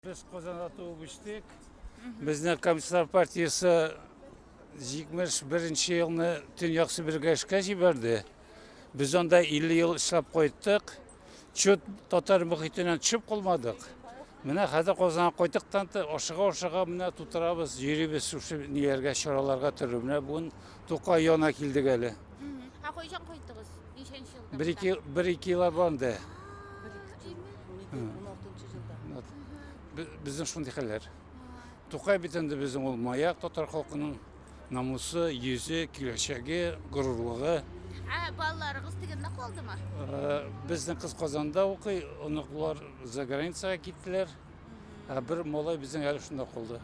Без Казанда туып үстек. Безне Комсомол партиясе 71 елны Төньяк Себергә эшкә җибәрде. Без анда 50 ел эшләп кайттык. Чүп татар мөхитеннән төшеп калмадык. Менә хәзер Казанга кайтык та ашыга-ашыга менә тутырабыз, йөрибез шушы ниләргә, чараларга төрле. Менә бүген Тукай яна килдек әле. Ә кайчан кайттыгыз? Ничәнче елда? Бер ике бер ике ел абанды. Безнең шундый хәлләр. Тукай бит инде безнең ул маяк татар халкының намусы, йөзе, киләчәге, горурлыгы. Ә балаларыгыз тегендә калдымы? Э, безнең кыз Казанда укый, оныклар за границага киттеләр. Ә бер малай безнең әле шунда калды.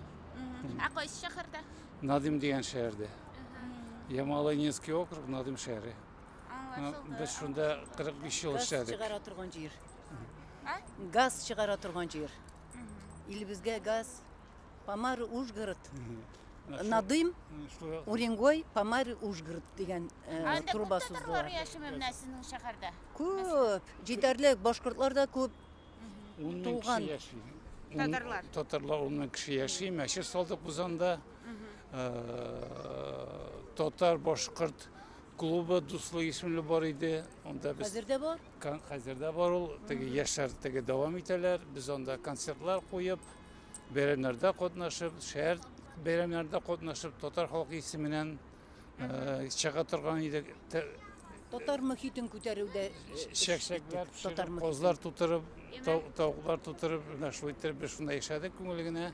Ә кайсы шәһәрдә? Надим дигән шәһәрдә. Ямалайнинский округ, Надим шәһәре. Аңлашылды. Без шунда 45 ел Газ эшләдек. чыгара торган җир. А? Газ чыгара торган җир. Илебезгә газ. Помары Ужгород. Надым, Шулай- Уренгой, Помары Ужгород дигән э, Анда күп трубасы татарлар яшиме менә сезнең шәһәрдә? Күп, җитәрлек, башкортлар да күп. Ун мең кеше яши. Татарлар. Татарлар ун мең кеше яши. Мәчет салдык без анда. Татар, башкорт клубы дуслы исемле бар иде. Анда без Хәзер дә бар? Хәзер дә бар ул. Теге яшьләр теге дәвам итәләр. Без анда концертлар куеп, бәйрәмнәрдә катнашып, шәһәр бәйрәмнәрдә катнашып, татар халкы исеменнән э, чыга торган идек. Те- Татар мөхитен күтәрүдә эш- эш Чәкчәкләр иттек. Татар пешереп, мөхитен. козлар тутырып, тау- тавыклар тутырып, менә шулай иттереп без шунда яшәдек күңел генә.